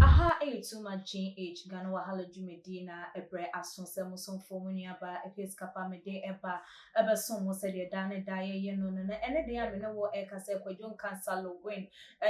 Aha ɛyɛ too much GH Ghana Wahala dwumadie no a ɛbrɛ aso sɛ mo somfoɔ mo nuabaa Episcapa mede ɛba ɛbɛsom mo sɛdeɛ daa ne daa yɛyɛ no no na ɛnɛ deɛ a me ne wo ɛreka sɛ Kwadwo Nkansah Loguen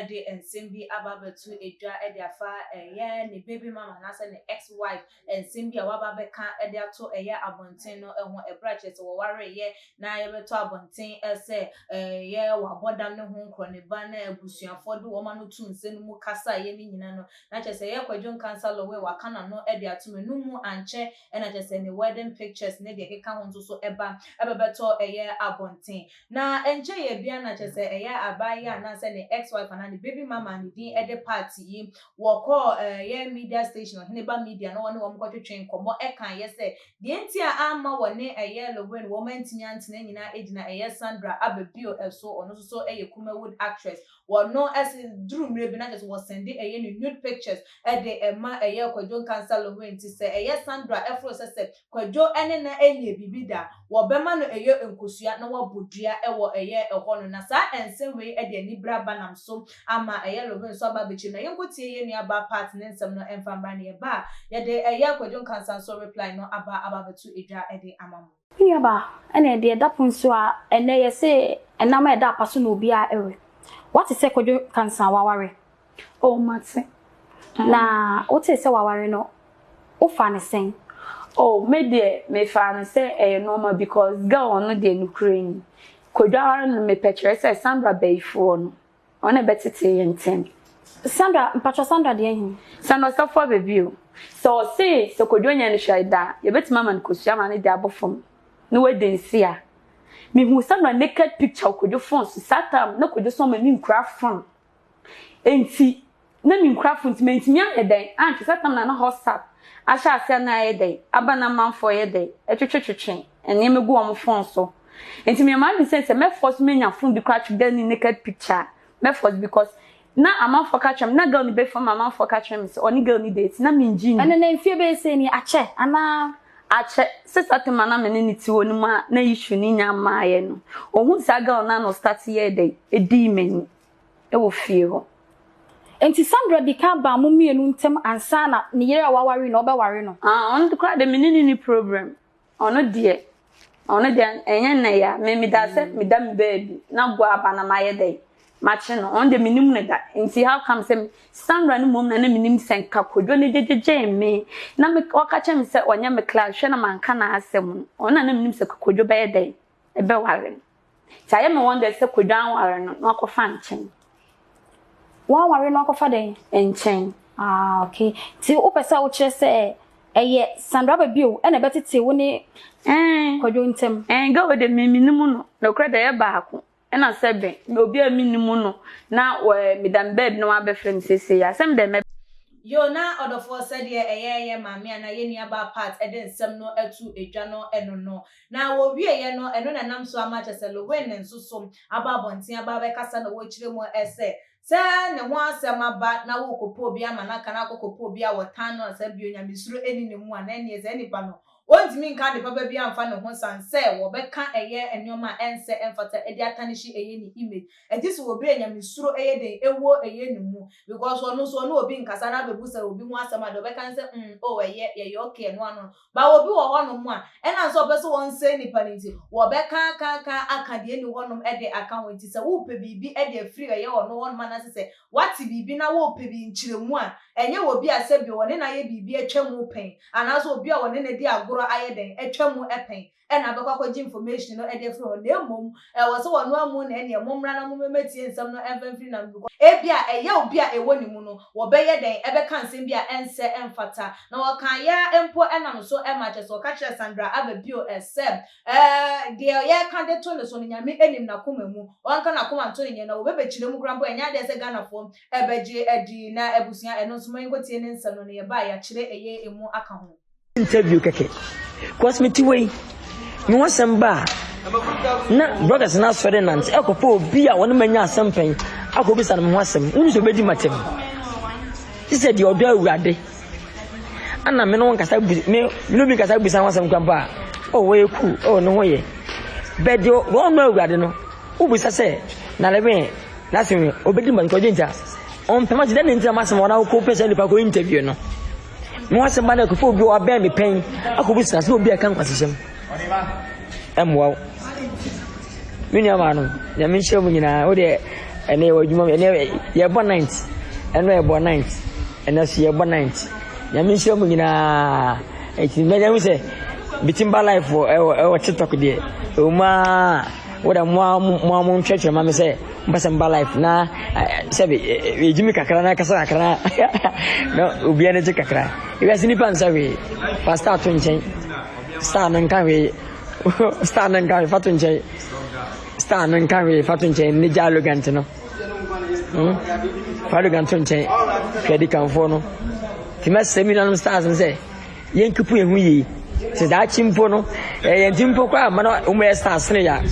de nsɛm bi aba abɛto dwa de afa ɛyɛ ne baby mama anaasɛ ne ex wife nsɛm bi a wɔaba abɛka de ato ɛyɛ abɔnten no ho bere a kyerɛ sɛ wɔwaree yɛ na yɛbɛtɔ abɔnten sɛ ɛyɛ wabɔ dam ne ho nkorɔ ne ba na abusuafoɔ de wɔn ano too nsa no mu kasa yɛ ne nyina no na kyerɛ sɛ ɛyɛ Kwadwo Nkansah Lowey waka n'ano de ato me no mu ankyɛ na kyerɛ sɛ ne wedding pictures ne deɛ ɛkeka ho nso so ba ɛbɛbɛtɔ ɛyɛ abɔnten. Na ɛnkyɛ yɛ biara na kyerɛ sɛ ɛyɛ abaa yi anaasɛ ne ex wife anaa ne baby mama ne din de part yi. Wɔkɔɔ ɛyɛ media station Ɔhene Ba Media na wɔne wɔn kɔtwetwee nkɔmmɔ kaeɛ sɛ deɛ nti a amma wɔne ɛyɛ Lewin wɔn antumi antena nyinaa agyina ɛyɛ Sandra aba bio so ɔno nso so yɛ Kumawood actress wɔno se duru mmerɛ bi na kyerɛ sɛ wɔ sɛnde ɛyɛ ne nude pictures de ma ɛyɛ Kwadwo Nkansah Lewin nti sɛ ɛyɛ Sandra foro sɛ sɛ Kwadwo ne na nyɛ biribi da, wɔbɛma no ɛyɛ nkosua na wɔabɔ dua wɔ ɛyɛ ɛhɔ no, na saa ɛnsɛm wei de anibra ba nam so ama ɛyɛ Love nso aba abɛkyɛm, na yɛnkɔ tie yɛn nua ba Pat ne nsɛm no ɛmfa mmra na yɛba a yɛde ɛyɛ Kwadwo Nkansanso reply no aba aba abɛto dwa de ama mo. Me nua ba, ɛne deɛ ɛda pon so a ɛnɛ yɛse ɛnam a ɛda apa so na obiara we. Wate sɛ Kwadwo Nkansa waware? O, mate. Na wotee sɛ waware no, wofaa no sɛn? O, me deɛ, mefaa no sɛ ɛyɛ nɔɔma bikɔs gɛl no deɛ nokorɛ ni, kwadware no mepɛ kyerɛ sɛ Sandra bayifoɔ no, ɔno na ɛbɛtetee yɛn ntɛm. Sandra, mpakyɛ Sandra deɛ he? Sandra ɔsɔfo aba bio. Sɛ ɔse sɛ Kwadwo nyɛ no hwee da a, yɛbɛtumi ama no kosua ma ne deɛ abɔ fam na wadi nse a. Mehuu Sandra naked picture wɔ Kwadwo phone so saa tam na Kwadwo so ama me nkura fam Enti na menkurafo nti mantumi anyɛ dɛn anhwɛ sɛ tam na na Hotstart ahyɛ aseɛ na ayɛ dɛn aba na amanfoɔ yɛ dɛn twetwetwetwe nneɛma gu wɔn fon so. Enti meyɛ m'adwene sɛ sɛ mɛ force manya fon bi koraa twe girl ne naked picture a mɛ force because na amanfoɔ ka kyerɛ me na girl no bɛfa mu amanfoɔ ka kyerɛ me sɛ ɔne girl no date na mengye nni. Ɛnɛ na mfie bɛyɛ sɛ ni akyɛ anaa? Akyɛ. Sister Tema na me ne no te hɔ no mu a na issue no nnya mmaeɛ no ɔhuu saa girl no a na ɔstart yɛɛ dɛn dii m'ani. wɔ fie hɔ. Enti Sandra di kan baa mo mmienu ntam ansa na ne yere a waware no ɔbɛware no? Ah, ɔno de koraa deɛ me ne no nni problem. Ɔno deɛ, ɔno deɛ ɛnyɛ nnɛ yi a, me meda sɛ meda me baabi na Goa aba na mayɛ dɛn? Makye no. Ɔno deɛ mennim no da. Enti how come sɛ Sandra no mmom na na menim sɛ nka Kwadwo no gyegye-gyee me na me, ɔka kyerɛɛ me sɛ ɔnyɛ me class, hwɛ na manka n'asɛm no. Ɔno na na menim sɛ Kwadwo bɛyɛ dɛn? bɛware no. Nti ayɛ me wonder sɛ Kwadwo anware no na wakɔfa nkyɛn. Wanware no akɔfa dɛn? Nkyɛn. Ah, okay. Nti wopɛ sɛ wokyerɛ sɛ ɛyɛ sandraba bio ɛna ɛbɛtete wo ne eh. Kwadwo ntam? Ɛn, ga wei de meminim no. Nokorɛ de ɛyɛ baako ɛna sɛ bɛn na obi a menim no na meda me baabi na wabɛfrɛ me seesei yi a, sɛ medɛn mɛba? Yoo, na ɔdɔfoɔ sɛdeɛ ɛyɛ yɛ maame anaa yɛ nuabaa Pat de nsɛm no ato dwa no, ɛno no. Na wɔwieeɛ no, ɛno na ɛnam so ama akyerɛ sɛ Lowen nso so aba abɔnten aba abɛkasa na wɔrekyerɛ mu ɛ sɛ, sɛ ne ho asɛm aba na worekɔpɛ obi ama no aka na akɔkɔpɛ obi a wɔtan no ansa bio, nyamesuro nni ne mu a, na ɛnneɛ saa nipa no, wɔntumi nka ade papa biara mfa ne ho sane sɛ wɔbɛka ɛyɛ nneɛma a ɛnsɛ ɛmfata de atanehye ɛyɛ ne image. Ɛgye sɛ obi a nyamesuro yɛ den wɔ ɛyɛ ne mu because ɔno nso ɔne obi nkasa na abɛbusa obi ho asɛm a, deɛ ɔbɛka ne sɛ, mm, oh ɛyɛ, yɛyɛ okay, ɛno ano no. But obi wɔ hɔnom a, ɛnam sɛ ɔpɛ sɛ ɔnsɛe nnipa no nti, wɔbɛkaakaaka aka deɛ ɛnni hɔnom de aka ho. Enti sɛ worepɛ biribi de afiri ɛyɛ ɔno hɔnom anaasɛ sɛ woate biribi na worepɛ bi nkyerɛmu a, ɛnyɛ wɔ obi a sɛbio ɔne no ayɛ biribi atwa mu pɛn, anaasɛ obi a ɔne no adi agorɔ ayɛ dɛn, atwa mu pɛn. ɛna abɛkɔ akɔgye information no de afiri hɔ, na mmom ɛwɔ sɛ ɔno amu na ɛneɛ mommra na mommɛtie nsɛm no mfa mfiri n'ano because ebia ɛyɛ obi a ɛwɔ ne mu no wɔbɛyɛ dɛn ɛbɛka nsɛm bi a ɛnsɛ ɛmfata na wɔkaeɛ ara mpo ɛna no so ɛma kyerɛ sɛ ɔka kyerɛɛ Sandra aba bio sɛ deɛ yɛreka de to ne so no Nyame ɛnim n'akoma mu ɔnka n'akoma nto ne nyɛ na wɔbɛbɛkyerɛ mu koraa mpo ɛnyɛ adeɛ sɛ Ghanafoɔ ɛbɛgye adi na abusua ɛno nso monkɔtie ne nsɛm no na yɛba a yɛakyerɛ ɛyɛ ɛmu aka ho. interview kɛkɛ cause me ti wei me ho asɛm ba a na brothers no asɔre nante ɛkɔpɛ obi a wɔne manya asɛm pɛn akɔbisa no me ho asɛm wonu sɛ obɛdi matam te sɛ deɛ ɔdɔ awurade ana me no nkasa bu me no bi nkasa busa ho asɛm kwampa a oh, ɔwɔ yɛ ku ɔwɔ oh, ne ho yɛ bɛɛ deɛ wɔn no awurade no wobisa sɛ na lɛbɛn n'asɛm obɛdi matam kɔgye nta ɔmpɛma ti dɛ ne ntina masɛm wɔn akɔpɛ sɛ nipa kɔ interview no na w'asɛm ba na ɛkɔfa obi a wabɛn me pɛn akɔbu sena sɛ obi a ɛka nkwasehyɛm ɛmmoa wo me nua maa no nyame nhyira mu nyinaa wo deɛ ɛnɛ yɛwɔ adwuma mu ɛnɛ yɛbɔ night ɛnɛ yɛbɔ night ɛnɛ so yɛbɔ night nyame nhyira mu nyinaa ɛti mɛnya hu sɛ bitimba life ɛwɔ ɛwɔ tiktok deɛ ɛwɔ mu aa Wo dɛ mo ara mo ara mo ntwerɛtwerɛ ma me sɛ mpɛ sɛ mba life na sɛ bi yɛgye me kakra na kasa kakra na obiara ne gye kakra wiase nipa nsa hwee fa star to nkyɛn star no nka hwee star no nka hwee fa to nkyɛn star no nka hwee fa to nkyɛn ne gya arrogant no hmm? fa arrogant to nkyɛn hwɛ di kanfoɔ no tìmɛ sɛ mi nanom stars no sɛ Yenkepu yehu yie, sɛ daakye mpo no ɛyɛ yɛn ti mpo koraa ama na wɔn yɛ san sene yɛ a,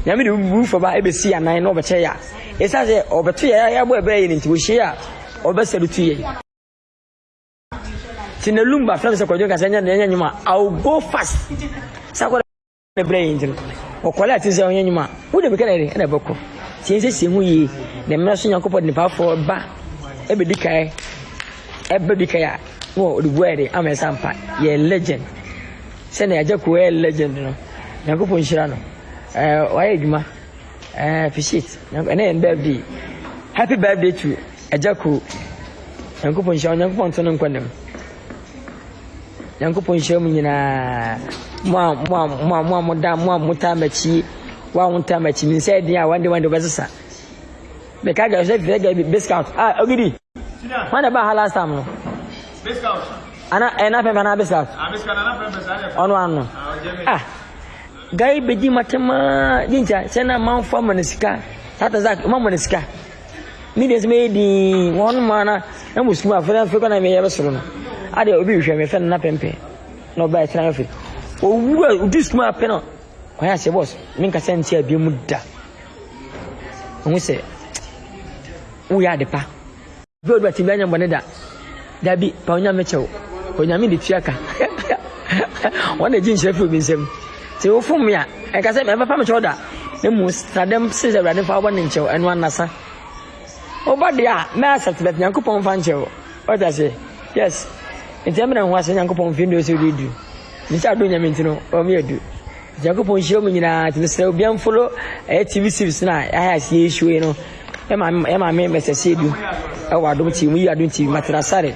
Nyame de obubufuo ba ɛbɛsi yɛn anan na ɔbɛkyɛ yɛ a, ɛsiane sɛ ɔbɛto yɛ a yɛabɔ ɛbrɛ yɛ no nti, ɔhyia yɛ a, ɔbɛsalutu yɛn. Nti na Lumba frɛ me sɛ Kwadwo nka sɛ ɛnyɛ nnwom a, I will go fast. Sɛ akwadaa. brɛ yɛn nti no ɔkɔle a ɛte sɛ ɔnyɛ nnwuma a wode bɛka dɛ ɛna ɛbɛkɔ nti yɛn sɛ sie ho yie na mmerɛ so nyankopɔn de nipafoɔ ba ɛbɛdi kae ɛbɛ di kae a na ɔde bua yɛ de ama ɛsa mpa yɛ legend sɛnea agya kuo yɛ legend no nyankopɔn nhyira no ɛɛ wayɛ adwuma ɛɛ appreciate ɛnɛ yɛn birthday happy birthday to agya kuo nyankopɔn nhyira nyankopɔn to no nkɔ ne mu Nyankopɔn nhyira mo nyinaa, mo a mo a mo a mo a moda mo a motaa m'akyi, wo a wontaa m'akyi, me nsa adin a wande wande wobɛsesa. Meka gya sɛ fɛ gya bi discount. Ah, ogidi. Wana ba ha last time no. Discount. Ana ɛna eh, fɛnfɛn na discount. Ah, discount na fɛnfɛn sa ne. Ɔno ano. Ah, ah. Guy bedi matema, jinja, sɛ na manfa mo ne sika. Tata zak, ma mo ne sika. me deɛ sɛ mɛyɛ din wɔn mu ana na mo sukuu afei afei kɔ na meyɛ bɛsoro no adeɛ obi hwɛ me fɛ no na pɛmpɛ na ɔba ɛtena afɛ owu a odu sukuu apɛ no wɔn aseɛ bɔs me nkasa nti abie mu da wɔn sɛ woyɛ adepa bi a ɔde bɛte bi anya mbɔ ne da Dabi, pa Onyame kyɛw. Onyame de tua ka. Wɔn na egye nhyira fi obi nsam. Sɛ wofom me a, ɛnka sɛ ɛmfa me kyɛw da. Na mmom, na dɛm se sɛ Awurade mfa wɔn ne nkyɛw, ɛno anasa. Woba deɛ a, mɛ accept, but Nyankopɔn mfa nkyɛw. Ɔte ase? Yes. Nti ɛmɛ na ho ase Nyankopɔn mfe ndu ɔsɛ ɔde du. Nti sɛ adɔ Onyame nti no, ɔmyɛ du. Nyankopɔn nhyira mo nyinaa nti mesrɛ obi amfolo ɛyɛ TV series na ayɛ ase yɛ issue yi no ɛma ɛma me mɛsɛ se edu ɛwɔ adom TV mu yi adom TV matena sare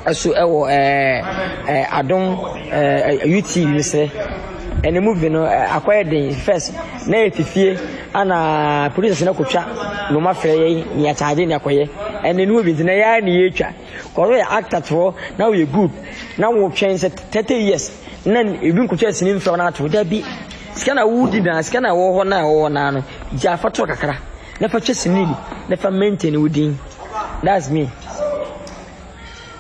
ɛso ɛwɔ ɛɛ adom ɛɛ UTV mesrɛ ɛne movie no akɔyɛ den first na yɛ fifie ana producers na kɔtwa noma frɛ yɛ ne yɛ charge ne akɔyɛ ɛne no bi nti na yɛ ne yɛ twa Ɔreyɛ actor toɔ na ɔyɛ group na wo twɛn sɛ thirty years na ebi nkotwa sini mfrɛ wo na ato dabi sika na wo di na sika na wɔ hɔ na wɔ na no gya fa to kakra na fa twɛ sini na fa maintain wo din that's me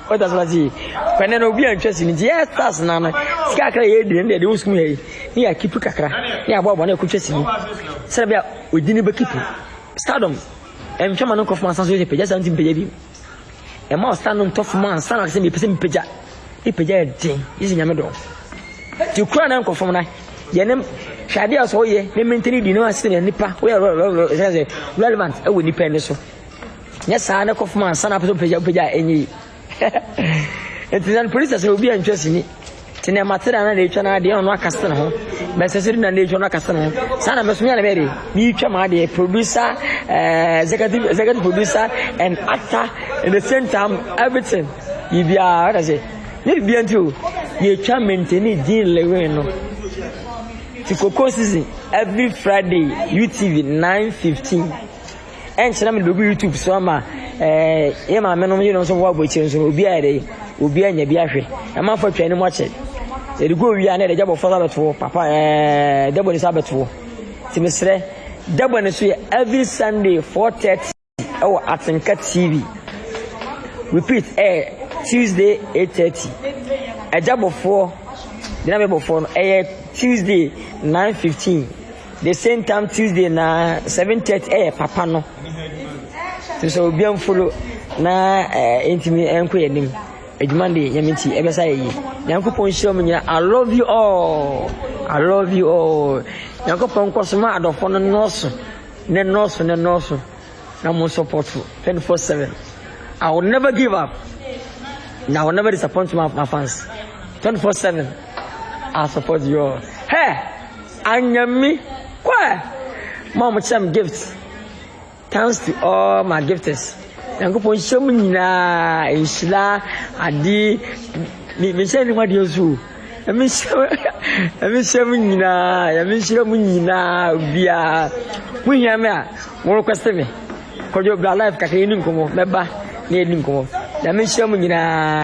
o that's what I kwane na obi antwa sini ti yes that's na no sika kakra yɛ di na de wo sum yɛ ni ya kipu kakra ni abo abo na ko twa sini sɛ bia odini be kipu stardom ɛntwa ma no nkɔfo ma sanso yɛ pɛgya santi pɛgya bi Ɛma ɔsa no ntɔ fam ansa na sɛ mepɛ sɛ mepagya. Mepagya yɛ den, gye sɛ Nyame dɔ. Ti kura na nkɔ fam na yɛne hwɛ adeɛ a sɛ woyɛ ne mentene di ne asene yɛ nipa woyɛ sɛ sɛ relevant ɛwɔ nipa ani so. Nyɛ saa na kɔ fam ansa na pɛ sɛ wopagya wopagya ɛnyɛ yi. Nti sɛ polisi sɛ obi antwa sini Te ne mate da na n'atwa na adeɛ ɔno aka sene ho bɛsɛ sɛ na n'atwa no aka sene ho saa na mɛso mea na bɛyɛ de meretwa ma adeɛ producer uh, executive executive producer and actor in the same time everything biribiara ɔda sɛ ne bibia nti o yɛtwa mentani din lewe no ti koko season every friday utv 915 Ɛnkyena mede bɛgu YouTube so ama ɛɛ yɛ maame nom yerenom nso bɛbɔ abɔkyire nso no obiara yɛ dɛ obiara nya bi ahwɛ ɛma afa twa anim akyɛ yɛde gu owie a na yɛde gya bɔfoɔ nsa bɛtoɔ papa ɛɛ dɛbɔ ne nsa bɛtoɔ nti mesrɛ dɛbɔ ne so yɛ every Sunday 4:30 ɛwɔ Atenka TV repeat ɛɛ Tuesday 8:30 ɛgya bɔfoɔ gyina bɛ bɔfoɔ no ɛyɛ Tuesday 9:15. The same time Tuesday na seven thirty ɛyɛ eh, papa no te sɛ obi mfolo na ɛɛ eh, ntumi ɛnkɔ yɛn anim adwuma de nyame nti ɛbɛsa yɛ yi nyankopɔn nhyira mu nyina i love you all i love you all nyankopɔn nkɔ so ma adɔfoɔ no nɔɔso ne nɔɔso ne nɔɔso na mo support twenty four seven i will never give up na i will never disappoint my, my fans twenty four seven i support you all hey. Anyɛ me kwa ɛ, mo a mo kyerɛ me gift, thanks to all my gifters, Nyankopɔn nhyira mo nyinaa nhyira ade, me me nhyira ne ho adeɛ nso o. Nyame nhyira Nyame nhyira mo nyinaa Nyame nhyira mo nyinaa biara mo hia me a mo request me kɔdwo bra life kakra yɛni nkɔmmɔ mɛba na yɛni nkɔmmɔ Nyame nhyira mo nyinaa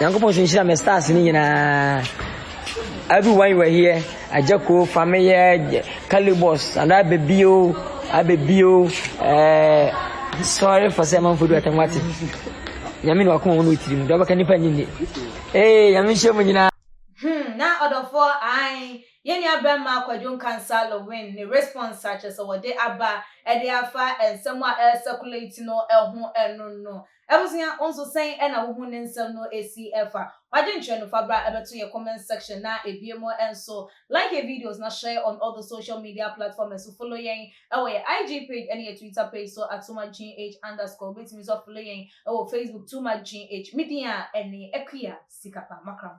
Nyankopɔn so nhyira me stars ni nyinaa. Everyone you were here, Ajako, Fameye, Calibos, and I baby o, I baby o. Eh, sorry for saying manfo do atamwate. Nyame na wakoma wono tirim, do abaka nipa nyinni. Eh, nyame nhyɛ mu nyinaa. Hmm, na ɔdɔfoɔ ae yɛn nua bɛrima Kwadwo Nkansa Lewin ne response a kyerɛ sɛ wɔde aba de afa nsɛm a ɛrecirculate no ho no no Abusua wo nso sɛn na wohu ne nsɛm no si fa? W'adwenkyerɛ no fa bra bɛto yɛ comment section na ebie mu nso like yɛ videos na share on all the social media platforms so follow yɛn wɔ yɛ IG page ne yɛ Twitter page so at TooMuchGH underscore wobɛtumi nso a follow yɛn wɔ Facebook TooMuchGH me din a ɛne Akua sika pa makra